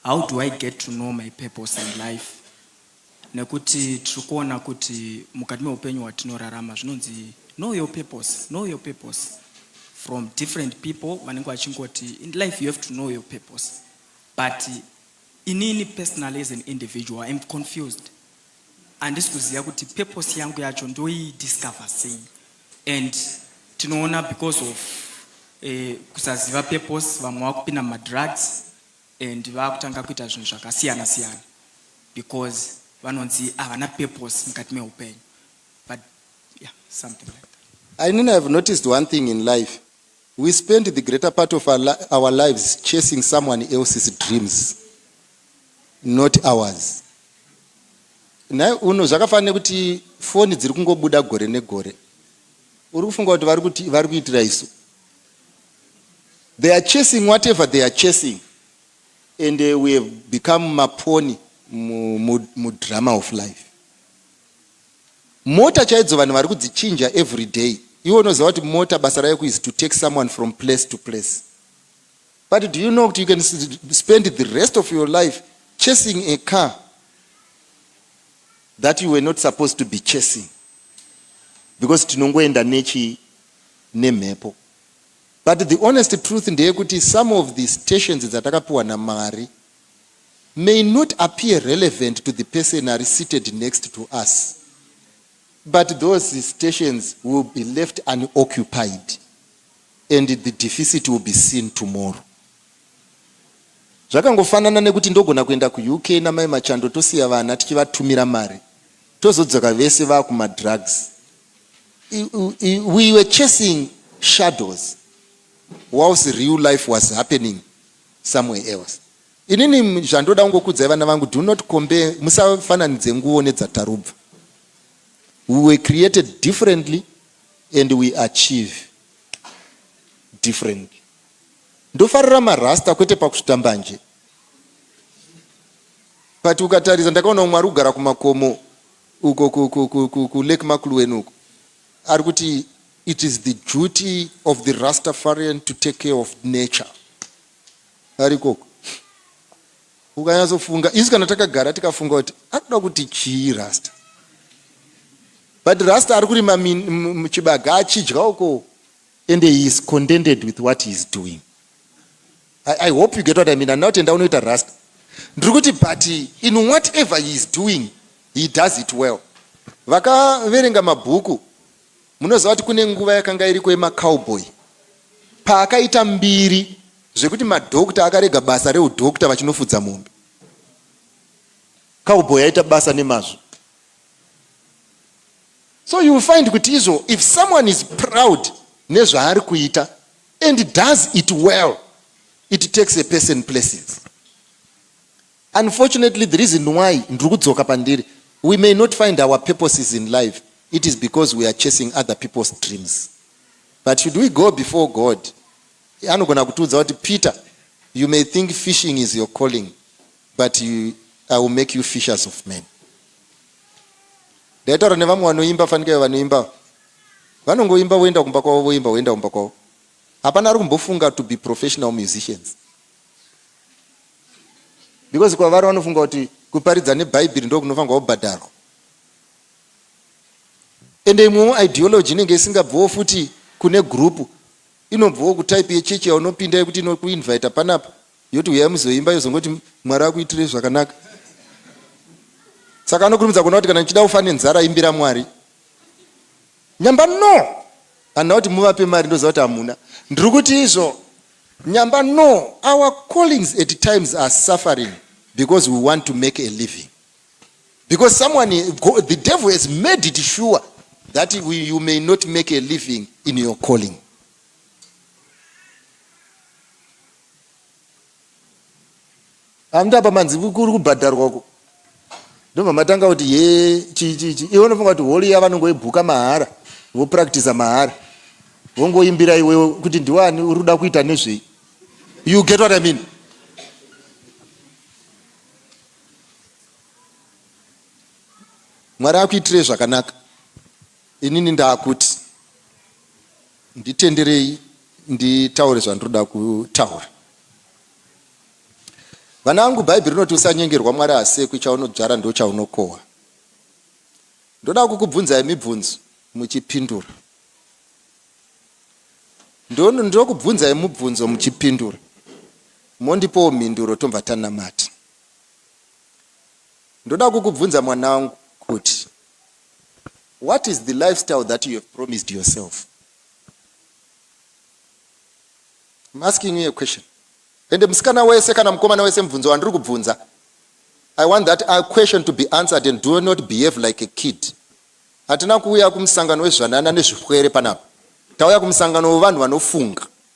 How do I get to know my purpose in life? Nekuti tiri kuona kuti mukati meupenyu hwatinorarama zvinonzi know your purpose, know your purpose from different people vanenge vachingoti in life you have to know your purpose but inini personally as an individual iam confused handisi kuziva kuti purpose yangu yacho ndoidiscover sei and tinoona because of eh, kusaziva purpose vamwe vakupinda mumadrugs and vakutanga kuita zvinhu zvakasiyana siyana because vanonzi havana purpose mukati mehupenyu but yeah something like that I mean, I've noticed one thing in life. We spend the greater part of our, li- our lives chasing someone else's dreams, not ours. Nhai uno zvakafanira kuti foni dziri kungobuda gore negore. Uri kufunga kuti vari kuti vari kuitira isu. They are chasing whatever they are chasing and uh, we have become maponi mudrama mu, mu of life. Mota chaidzo vanhu vari kudzichinja every day. Iwe unoziva kuti mota basa rayo is to take someone from place to place. But do you know that you can spend the rest of your life chasing a car that you were not supposed to be chasing because tinongoenda nechi nemhepo But the honest truth ndeyekuti some of the stations dzatakapiwa naMwari may not appear relevant to the person ari seated next to us but those stations will be left unoccupied and the deficit will be seen tomorrow zvakangofanana nekuti ndogona kuenda kuuk namai machando tosiya vana tichivatumira mari tozodzoka vese vakumadrugs we were chasing shadows whilst real life was happening somewhere else inini zvandoda kungokudzai vana vangu do not compare musafananidze nguvo nedzatarubva we were created differently and we achieve differently ndofarira marasta kwete pakusvita mbanje but ukatarisa ndakaona mwari kugara kumakomo uko ku ku ku ku ku Lake Makulueni uko ari kuti it is the duty of the Rastafarian to take care of nature ari koko ukanyatsofunga isu kana takagara tikafunga kuti akuda kuti chii rasta but rasta ari kurima chibaga achidya uko and he is contented with what he is doing I, I hope you get what I mean. Handina kuti enda unoita rasta. Ndiri kuti but in whatever he is doing, he does it well. Vakaverenga mabhuku, munoziva kuti kune nguva yakanga iriko yemacowboy. Paakaita mbiri zvekuti madhokta akarega basa reudhokta vachinofudza mombe. Cowboy aita basa nemazvo. So you will find kuti izvo if someone is proud nezvaari kuita and does it well it takes a person places unfortunately the reason why ndiri kudzoka pandiri we may not find our purposes in life it is because we are chasing other people's dreams but should we go before god anogona kutiudza kuti peter you may think fishing is your calling but you, i will make you fishers of men ndaitaura nevamwe vanoimba fanika vanoimba Vanongoimba voenda kumba kwavo voimba voenda kumba kwavo. Hapana ari kumbofunga to be professional musicians. Because kwavari vanofunga kuti kuparidza nebhaibhiri ndokunofanirwa kubhadharwa. Ende imwewo ideology inenge isingabviwo futi kune group inobviwo kutype yechechi yaunopinda yekuti inokuinvita panapa yoti huyai muzoimba yozongoti mwari akuitire zvakanaka saka anokurumidza kuona kuti kana ndichida ufa nenzara imbira mwari Nyamba no handina kuti muvape mari ndoziva kuti hamuna ndiri kuti izvo Nyamba no our callings at times are suffering because we want to make a living because someone the devil has made it sure that we, you may not make a living in your calling Hamda apa manzi kuri kubhadharwa uko. Ndobva matanga kuti he chii chii chii. Iwe unofunga kuti hall iya vanongoibhuka mahara, vopracticer mahara. Vongoimbira iwewe kuti ndiwani uri kuda kuita nezvei. You get what I mean? Mwari akuitire zvakanaka. Inini ndaakuti nditenderei nditaure zvandinoda kutaura. Vana vangu bhaibheri rinoti usanyengerwa Mwari hasekwi chaunodzvara ndochaunokohwa. Ndoda kukubvunzai mibvunzo muchipindura. Ndokubvunzai mubvunzo muchipindura mondipowo mhinduro tobva tanamata. Ndoda kukubvunza mwana wangu kuti What is the lifestyle that you have promised yourself? I'm asking you a question. Ende musikana wese kana mukomana wese mubvunzo wandiri kubvunza. I want that a question to be answered and do not behave like a kid. Hatina kuuya kumusangano wezvanana nezvipwere panapa. Tauya kumusangano wevanhu vanofunga.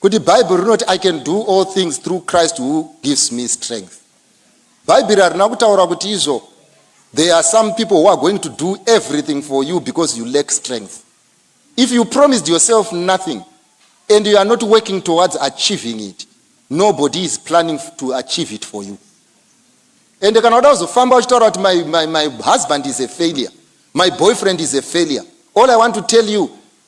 Kuti Bible rinoti I can do all things through Christ who gives me strength. Bhaibheri harina kutaura kuti izvo there are some people who are going to do everything for you because you lack strength. If you promised yourself nothing and you are not working towards achieving it, nobody is planning to achieve it for you. And kana uda kuzofamba uchitaura kuti my, my, my husband is a failure, my boyfriend is a failure. All I want to tell you,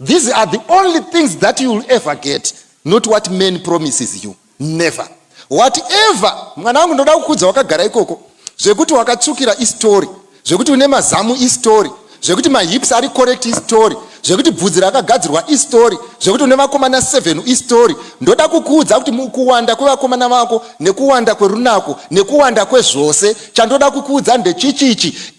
These are the only things that you will ever get, not what man promises you. Never. Whatever, mwana wangu ndoda kukudza wakagara ikoko. Zvekuti wakatsukira istory. Zvekuti une mazamu istory. Zvekuti mahips ari correct istory. Zvekuti bvudzi rakagadzirwa istory. Zvekuti une vakomana 7 istory. Ndoda kukuudza kuti mukuwanda kwevakomana vako nekuwanda kwerunako nekuwanda kwezvose chandoda kukuudza ndechichichi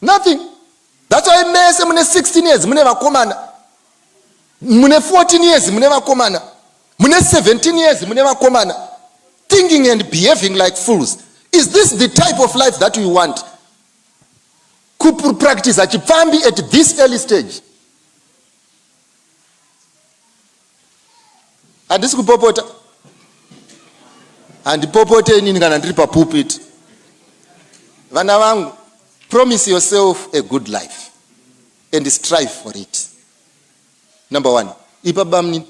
nothing thats why mese mune 16 years mune vakomana mune 14 years mune vakomana mune 17 years mune vakomana thinking and behaving like fools is this the type of life that you want kupractice achipfambi at this early stage handisi kupopota handipopote inini kana ndiri papulpit vana vangu promise yourself a good life and strive for it number one ipa bamnini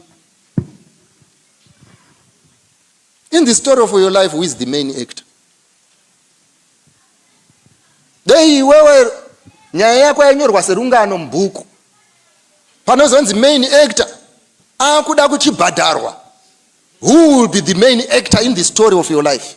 In the story of your life who is the main actor? Dei iwewe nyaya yako yanyorwa serungano mubhuku panozonzi main actor akuda kuchibhadharwa who will be the main actor in the story of your life?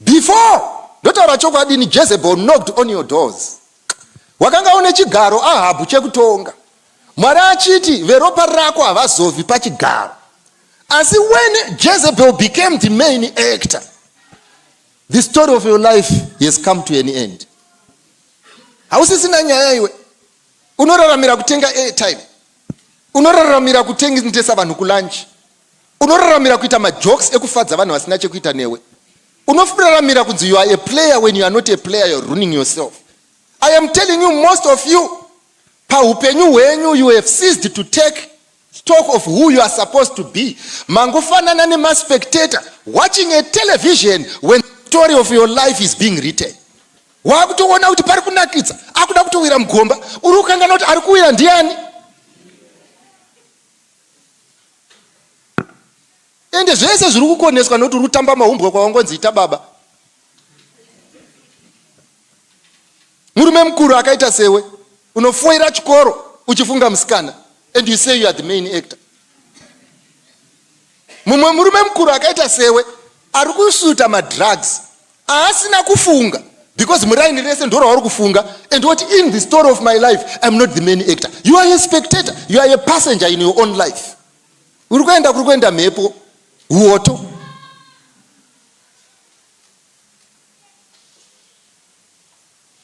Before! Ndotaura chokwadi ini Jezebel knocked on your doors. Wakanga une chigaro Ahabhu chekutonga. Mwari achiti veropa rako havazovi pachigaro. Asi when Jezebel became the main actor, the story of your life has come to an end. Hausisina nyaya iwe. Unoraramira kutenga airtime. Unoraramira kutengesa vanhu kulunch. Unoraramira kuita majokes ekufadza vanhu vasina chekuita newe. Unoraramira kunzi you are a player when you are not a player you are ruining yourself. I am telling you most of you pahupenyu hwenyu you have ceased to take stock of who you are supposed to be. Mangofanana nemaspectator watching a television when the story of your life is being written. Wakutoona kuti pari kunakidza akuda kutowira mugomba uri kukangana kuti ari kuwira ndiani? ende zvese zviri kukoneswa nokuti uri kutamba mahumbwa kwawangonzi ita baba murume mukuru akaita sewe unofoira chikoro uchifunga musikana and you say you are the main actor mumwe murume mukuru akaita sewe ari kusuta madrugs aasina kufunga because muraini rese ndorauri kufunga and woti in the story of my life iam not the main actor you are a spectator you are a passenger in your own life uri kuenda kuri kuenda mhepo uoto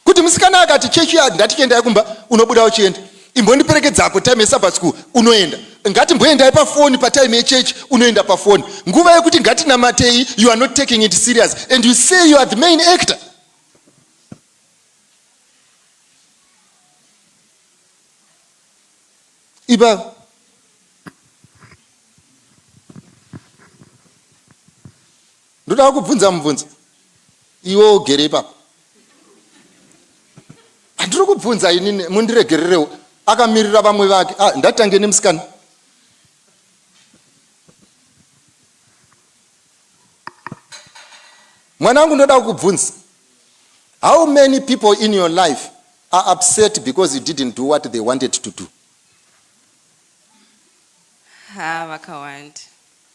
kuti musikana akati church yard ndati chiendai kumba unobuda uchienda imbondiperekedzako time yesabbat school unoenda ngati mboendai pafoni patime yechechi unoenda pafoni nguva yekuti ngatinamatei you are not taking it serious and you say you are the main actor iba Ndoda kukubvunza mubvunzo. Iwe ugere ipapo. Andiri kubvunza inini mundiregererewo. Akamirira vamwe vake. Ah, ndatange nemusikana. Mwana wangu ndoda kukubvunza. How many people in your life are upset because you didn't do what they wanted to do? Ha, vakawanda.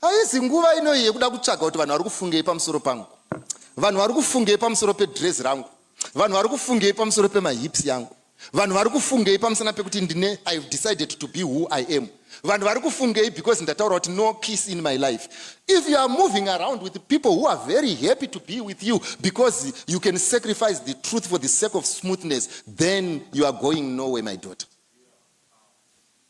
Haizi nguva ino iyi yekuda kutsvaga kuti vanhu vari kufungei pamusoro pangu, vanhu vari kufungei pamusoro pedrezi rangu, vanhu vari kufungei pamusoro pemahips yangu, vanhu vari kufungei pamusana pekuti ndine i have decided to be who i am, vanhu vari kufungei because ndataura kuti no peace in my life. If you are moving around with people who are very happy to be with you because you can sacrifice the truth for the sake of smoothness, then you are going nowhere my daughter.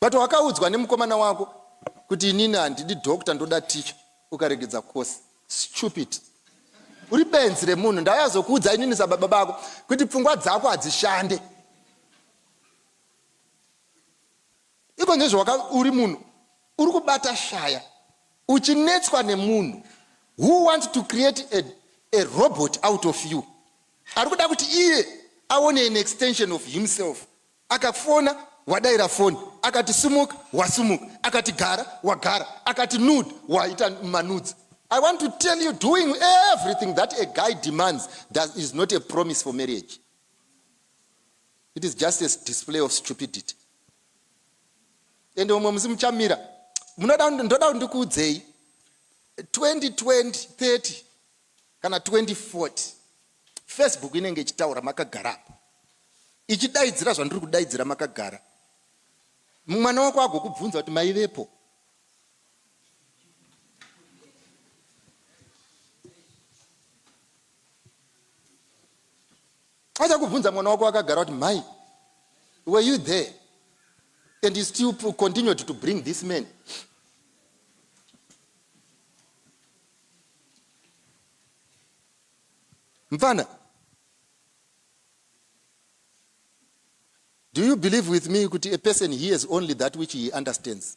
But wakaudzwa nemukomana wako kuti inini handidi doctor ndoda teacher ukaregedza course. Stupid. Uri benzi remunhu ndauya kuzokuudza inini sababa bako kuti pfungwa dzako hadzishande. Iko nezvawaka uri munhu uri kubata shaya uchinetswa nemunhu who wants to create a, a robot out of you. Ari kuda kuti iye aone an extension of himself Akafona wadaira foni akati sumuka wasumuka akati gara wagara akati nude waita manudes I want to tell you doing everything that a guy demands that is not a promise for marriage it is just a display of stupidity ende umwe musi muchamira munoda ndoda kuti ndikuudzei 2020 30 kana 2040 Facebook inenge ichitaura makagara apa ichidaidzira zvandiri kudaidzira makagara. Mwana wako agokubvunza kuti maivepo. Achakubvunza mwana wako akagara kuti mai were you there and you still continued to bring this man Mfana. Do you believe with me kuti a person hears only that which he understands?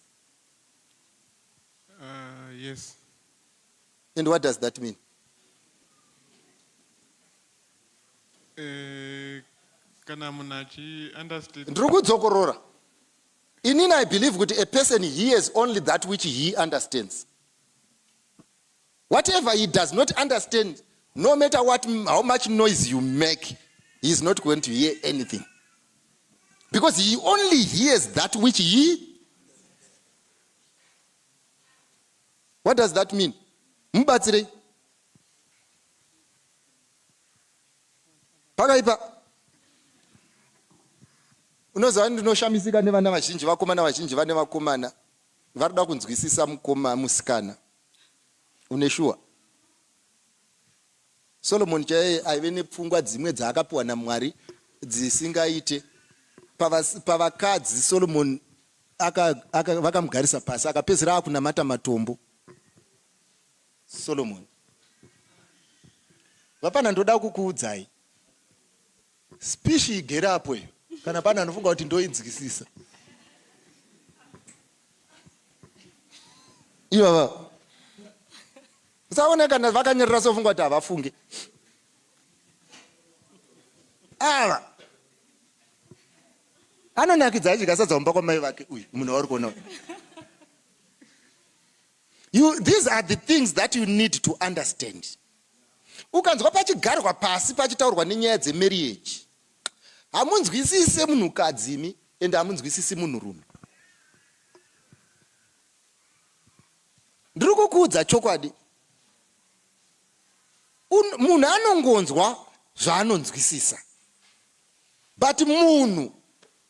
Uh, yes. And what does that mean? Eh, kana munhu achi understand ndiri kudzokorora inini i believe kuti a person hears only that which he understands Whatever he does not understand, no matter what, how much noise you make, he is not going to hear anything. Because he only hears that which he. What does that mean? Mubatsirei. Pakaipa. Unoziva ndinoshamisika nevana vazhinji, vakomana vazhinji vane vakomana. Varikuda kunzwisisa mukoma musikana une shuwa. Solomon chaiye aive nepfungwa dzimwe dzaakapiwa naMwari dzisingaite. Pavas- Pavakadzi Solomon aka, aka, vakamugarisa pasi akapedzisira akunamata matombo. Solomon vapana ndoda kukuudzai Speech igere apo iyo kana pane anofunga kuti ndoinzwisisa. Ivava usaone kana vakanyerera sofunga kuti havafunge ava anonakidza achidya sadza mumba kwamai vake uyu munhu wauri kuona uyu You, these are the things that you need to understand. Ukanzwa pachigarwa pasi pachitaurwa nenyaya dzemarriage, hamunzwisise munhukadzi imi and hamunzwisisi munhurume. Ndiri kukuudza chokwadi, munhu anongonzwa zvaanonzwisisa, but munhu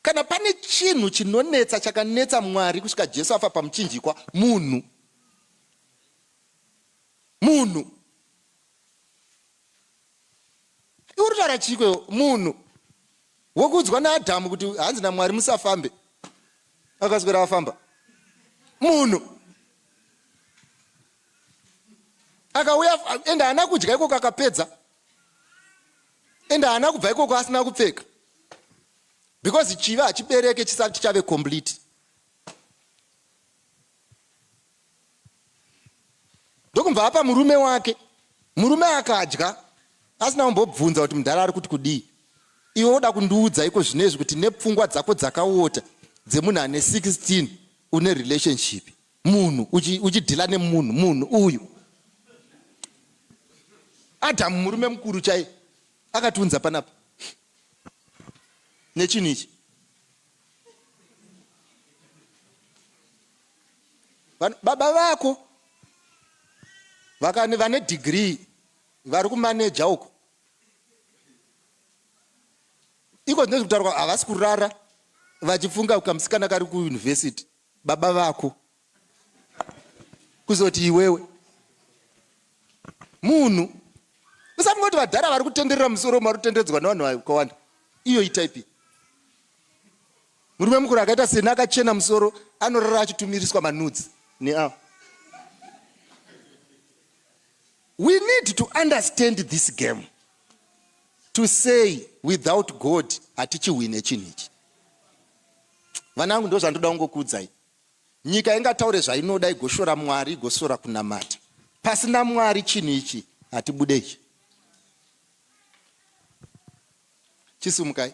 Kana pane chinhu chinonetsa chakanetsa Mwari kusvika Jesu afa pamuchinjikwa, munhu. Munhu. Iwe uritaura chii kwewo? Munhu. Wokuudzwa naAdhamu kuti hanzi naMwari musafambe. Akaswera afamba. Munhu. Akauya ende haana kudya ikoko akapedza. and haana kubva ikoko asina kupfeka because chivi hachibereke chisati chave complete ndokumbva apa murume wake murume akadya asina kumbobvunza kuti mudhara ari kuti kudii iwe woda kundiudza iko zvinezvi kuti nepfungwa dzako dzakaota dzemunhu ane 16 une relationship munhu uchidhila nemunhu munhu uyu adhamu murume mukuru chai akatiunza panapa nechinhu ichi baba vako vakani vane dhigrii vari kumaneja uko iko zvinezvi kutaurwa havasi kurara vachifunga kamusikana kari kuyunivhesiti baba vako kuzoti iwewe munhu usamungoti vadhara vari kutenderera musoro vari kutenderedzwa nevanhu vakawanda iyo itaipi murume mukuru akaita seni akachena musoro anorara achitumiriswa manudzi neavo we need to understand this game to say without god hatichihwine chinhu ichi Vanangu ndozvandoda kungokuudzai. Nyika ingataure zvainoda igoshora Mwari igosora kunamata. Pasina Mwari chinhu ichi hatibude ichi. Chisumukai.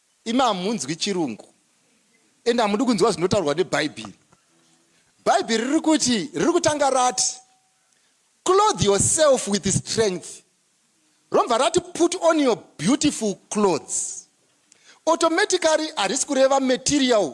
Imi hamunzwi chirungu and hamudi kunzwa zvinotaurwa nebhaibheri. Bhaibheri riri kuti riri kutanga rati clothe yourself with strength romva rati put on your beautiful clothes automatically harisi kureva material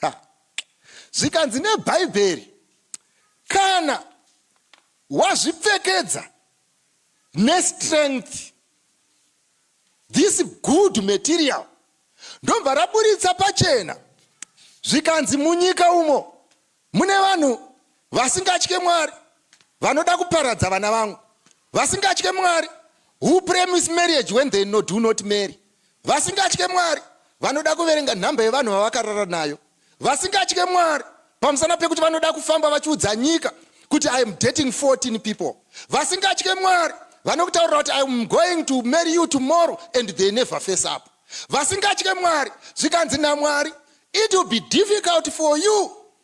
Ha! Zvikanzi neBhaibheri, Kana wazvipfekedza nestrength, this good material, ndobva raburitsa pachena zvikanzi munyika umo mune vanhu vasingatye Mwari vanoda kuparadza vana vangu, vasingatye Mwari who premise marriage when they no do not marry, vasingatye Mwari vanoda kuverenga nhamba yevanhu vavakarara nayo, vasingatye Mwari pamusana pekuti vanoda kufamba vachiudza nyika kuti I am dating 14 people, vasingatye Mwari vanokutaurira kuti I am going to marry you tomorrow and they never face up, vasingatye Mwari zvikanzi naMwari it will be difficult for you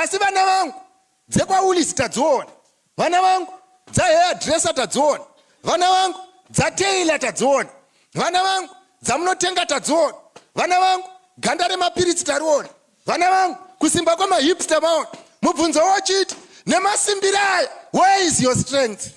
Asi vana vangu dzekwaWoolies tadziona, vana vangu dzahairdresser tadziona, vana vangu dzatailor tadziona, vana vangu dzamunotenga tadziona, vana vangu ganda remapiritsi tariona, vana vangu kusimba kwemahips tamaona. Mubvunzo wochiti nemasimbiro aya where is your strength?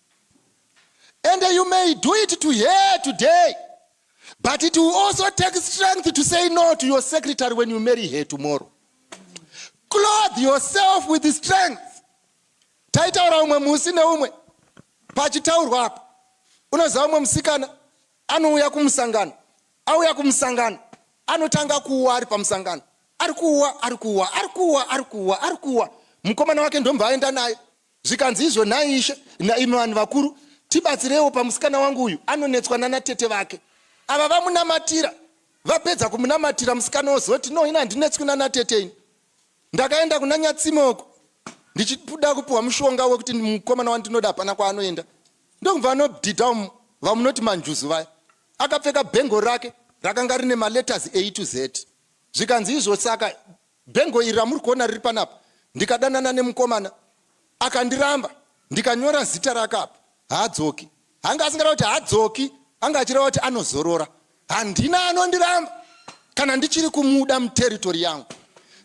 And you may do it to her today, but it will also take strength to say no to your secretary when you marry her tomorrow. Clothe yourself with strength. Taitaura umwe musi neumwe pachitaurwa apa, unoziva umwe musikana anouya kumusangano, auya kumusangano, anotanga kuwa ari pamusangano, ari kuwa, ari kuwa, ari kuwa, ari kuwa, ari kuwa, mukomana wake ndomva aenda naye Zvikanzi izvo nhai ishe naimi vanhu vakuru tibatsireiwo pamusikana wangu uyu anonetswa nana tete vake ava vamunamatira vapedza kumunamatira musikana ozoti no ini handinetswi nana tete ini ndakaenda kuna nyatsime uko ndichida kupiwa mushonga wekuti mukomana wandinoda hapana kwaanoenda ndokubva anodhidha umu vamunoti manjuzu vaya akapfeka bhengo rake rakanga rine maletters a to z zvikanzi izvo saka Bhengo iri ramuri kuona riri panapa ndikadanana nemukomana akandiramba ndikanyora zita rake apa haadzoki anga asingada kuti haadzoki anga achireva kuti anozorora handina anondiramba kana ndichiri kumuda muteritori yangu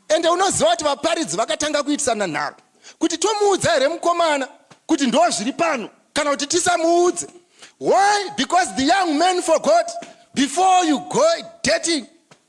ende unoziva kuti vaparidzi vakatanga kuitisana nharo kuti tomuudza here mukomana kuti ndo zviri pano kana kuti tisamuudze why because the young man forgot before you go dating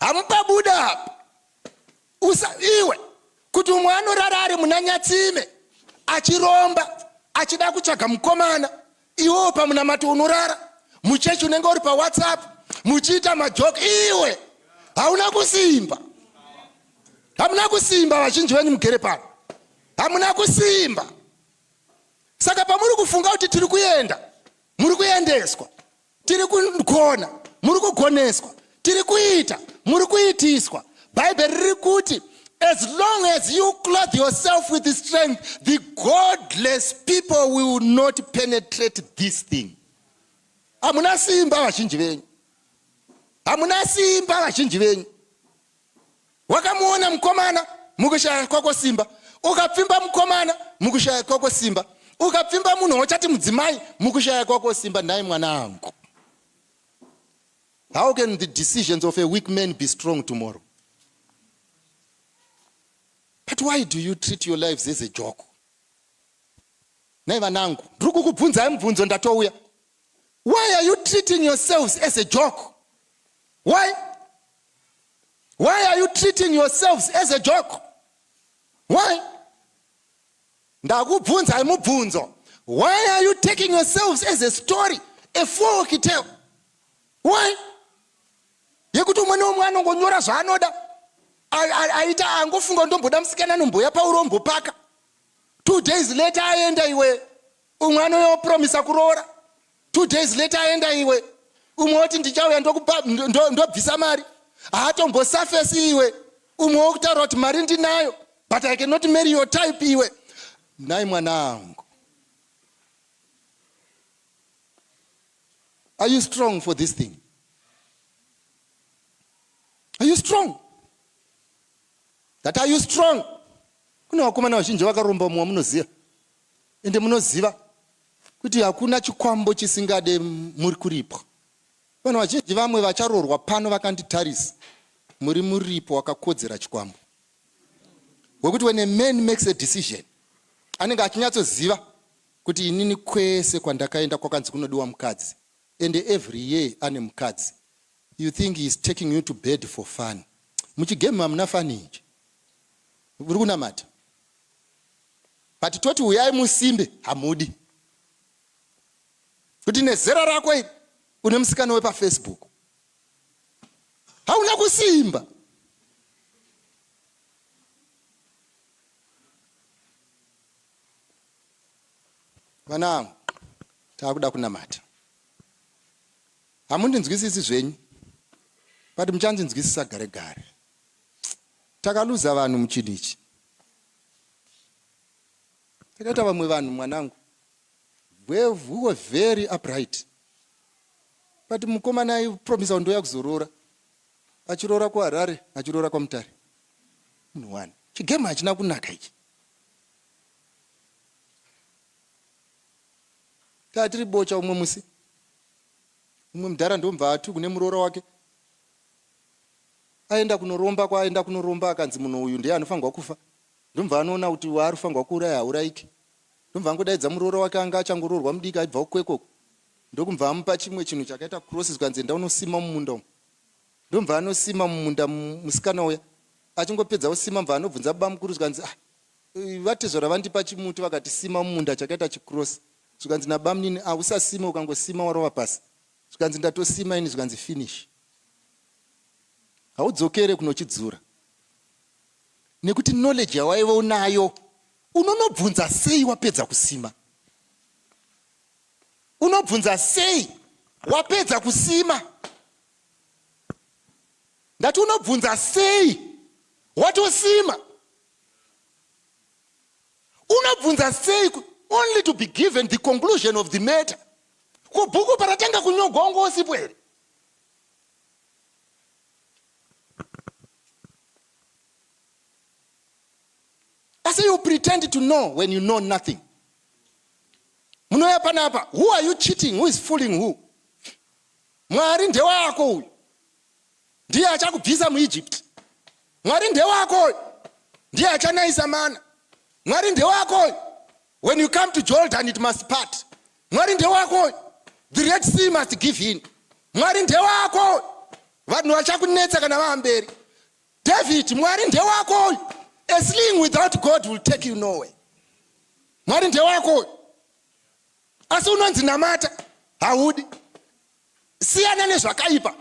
Hamupa buda apa. Usa iwe kuti umwe anorara ari muna Nyatsime achiromba achida kutsvaga mukomana iwewo pamunamato unorara muchechi unenge uri pawhatsapp muchiita majoke iwe hauna kusimba hamuna kusimba vazhinji venyu mugere pano hamuna kusimba saka pamuri kufunga kuti tiri kuenda muri kuendeswa tiri kugona muri kugoneswa tiri kuita muri kuitiswa bhaibheri riri kuti as long as you clothe yourself with the strength the godless people will not penetrate this thing hamuna simba vazhinji venyu hamuna simba vazhinji venyu Wakamuona mukomana mukushaya kwako simba. Ukapfimba mukomana mukushaya kwako simba. Ukapfimba munhu wachati mudzimai mukushaya kwako simba nhai mwana angu. How can the decisions of a weak man be strong tomorrow? But why do you treat your lives as a joke? Nhai vanangu, ndiri kukubvunzai mubvunzo ndatouya. Why are you treating yourselves as a joke? Why? why are you treating yourselves as a joke why ndakubvunzai mubvunzo why are you taking yourselves as a story a folk tale why yekuti umwe neumwe anongonyora zvaanoda aita angofunga ndomboda musikana nomboya paurombo paka two days later aenda iwe umwe anoyopromisa kuroora two days later aenda iwe umwe woti ndichauya ndokupa ndobvisa ndo mari haatombosafesi iwe umwe wokutaura kuti mari ndinayo but i cannot marry your type iwe nhai mwana angu are you strong for this thing are you strong that are you strong kune vakomana vazhinji vakaromba mumwe munoziva ende munoziva Kuti hakuna chikwambo chisingade muri kuripo. Vanhu vazhinji vamwe vacharoorwa pano vakanditarisa muri muripo wakakodzera chikwambo. Wekuti when a man makes a decision anenge achinyatsoziva kuti inini kwese kwandakaenda kwakanzi kunodiwa mukadzi and every year ane mukadzi you think he is taking you to bed for fun muchigame hamuna fani inje uri kunamata but toti huyai musimbe hamudi kuti nezera rako iri une musikana wepafacebook hauna kusimba vana angu taakuda kunamata hamundinzwisisi zvenyu but muchandinzwisisa gare gare Takaluza vanhu muchinhu ichi. Takaita vamwe vanhu mwanangu. We were very upright. But mukomana aipromisa ndoya kuzoroora. Achiroora kuHarare, achiroora kwaMutare. Munhu wani. Chigame hachina kunaka ichi. Tatiri bocha umwe musi. Umwe mudhara ndomva atu kune muroora wake. Aenda kunoromba kwaaenda kunoromba akanzi munhu uyu ndiye anofanirwa kufa ndobva anoona kuti waari kufanirwa kuuraya haurayike ndobva angodaidza muroora wake anga achangoroorwa mudiki aibvawo kwekoko ndokubva amupa chimwe chinhu chakaita cross zvikanzi enda unosima mumunda umu ndobva anosima mumunda musikana uya achingopedza kusima bva anobvunza bamukuru zvikanzi ah vatezvara vandipa chimuti vakati sima mumunda chakaita chicross zvikanzi nabamunini ahusasime ukangosima warova pasi zvikanzi ndatosima ini zvikanzi finish haudzokere kunochidzura nekuti knowledge yawaive unayo unonobvunza sei wapedza kusima unobvunza sei wapedza kusima ndati unobvunza sei watosima unobvunza sei only to be given the conclusion of the matter Ko bhuku paratanga kunyogwa wanga usipo here? I say you pretend to know when you know nothing. Munouya panapa, who are you cheating? Who is fooling who? Mwari ndewako uyu. ndiye achakubvisa muEgypt. Mwari ndewako uyu, ndiye achanayisa mana. Mwari ndewako uyu, when you come to Jordan it must part. Mwari ndewako uyu, the Red Sea must give in. Mwari ndewako uyu, vanhu vachakunetsa kana vamberi. David, Mwari ndewako uyu, a sling without God will take you nowhere. Mwari ndewako uyu, asi unonzi namata haudi. siyana nezvakaipa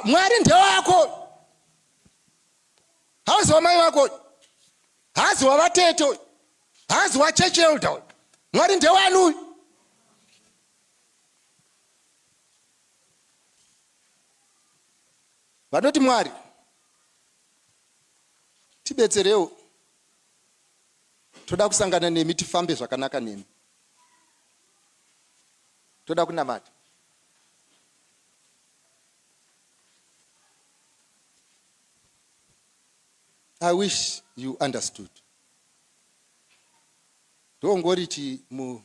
mwari ndewako hauzi wamai vako haazi wavatete uyu haazi wachurch elder uyu mwari ndewani uyu vanoti mwari tibetserewo toda kusangana nemi tifambe zvakanaka nemi toda kunamata i wish you understood ndongoriti mu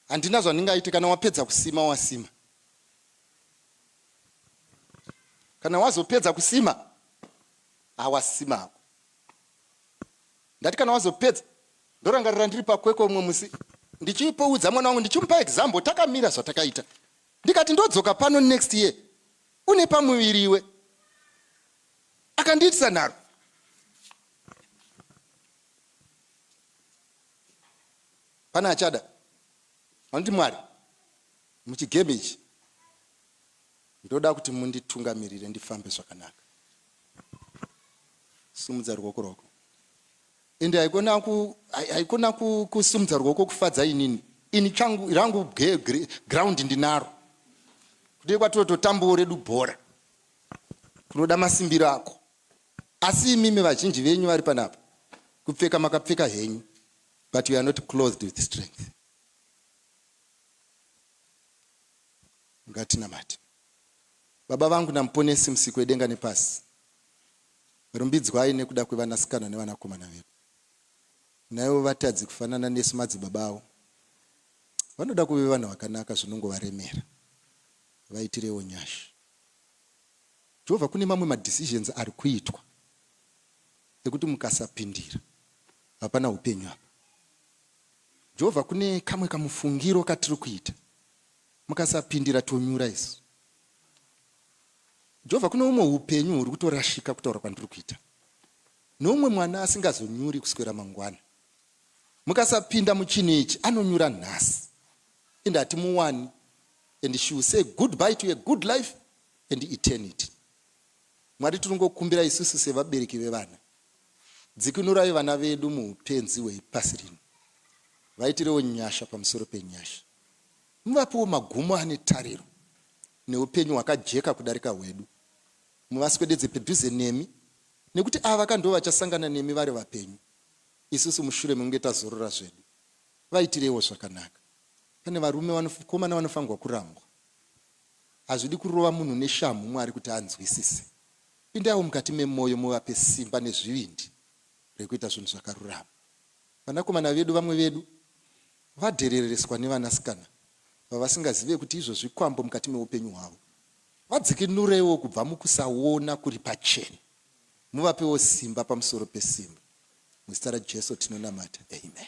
handina zvandingaite kana wapedza kusima wasima kana wazopedza kusima hawasima hako Ndati kana wazopedza ndorangarira ndiri pakwekwe umwe musi ndichipoudza mwana wangu ndichimupa example takamira zvatakaita ndikati ndodzoka pano next year une pamuviri iwe akandiitisa nharo pane achada vanoti mwari muchigame ichi ndoda kuti munditungamirire ndifambe zvakanaka Simudza ruoko rwako. Ende haikona ku haikona kusimudza ruoko kufadza inini. Ini changu rangu ground ndinaro. Kudai kwatototambawo redu bhora. Kunoda masimbiro ako. Asi imimi vazhinji venyu vari panapa. Kupfeka makapfeka henyu. But you are not clothed with strength. Ngatinamate. Baba vangu naMuponesi Musiki wedenga nepasi, rumbidzwai nekuda kwevanasikana nevanakomana vedu. Naivo vatadzi kufanana nesu madzibaba avo vanoda kuve vanhu vakanaka zvinongovaremera. Vaitirewo nyasha. Jehovha kune mamwe madecisions ari kuitwa ekuti mukasapindira hapana upenyu apa. Jehovha kune kamwe kamufungiro katiri kuita Mukasapindira tonyura isu. Jehovha kune umwe hupenyu huri kutorashika kutaura kwandiri kuita neumwe mwana asingazonyuri kuswera mangwana. Mukasapinda muchinhu ichi anonyura nhasi and hatimuwani and she will say goodbye to a good life and eternity. Mwari tiringokumbira isusu sevabereki vevana dzikinurai vana vedu muupenzi hwepasi rino vaitirewo nyasha pamusoro penyasha. Muvapewo magumo ane tariro neupenyu hwakajeka kudarika hwedu. Muvaswededze pedhuze nemi nekuti ava ka ndovachasangana nemi vari vapenyu isusu mushure mekunge tazorora zvedu. Vaitireiwo zvakanaka. Pane varume vanokomana vanofanirwa kurambwa. Hazvidi kurova munhu neshamhu Mwari kuti anzwisise. Pindaiwo mukati memoyo muvape simba nezvivindi rekuita zvinhu zvakarurama. Vanakomana vedu vamwe vedu Vadherereswa nevanasikana vavasingazive kuti izvo zvikwambo mukati meupenyu hwavo. Vadzikinureiwo kubva mukusaona kuri pachena. Muvapewo simba pamusoro pesimba. Muzita raJesu tinonamata. Amen.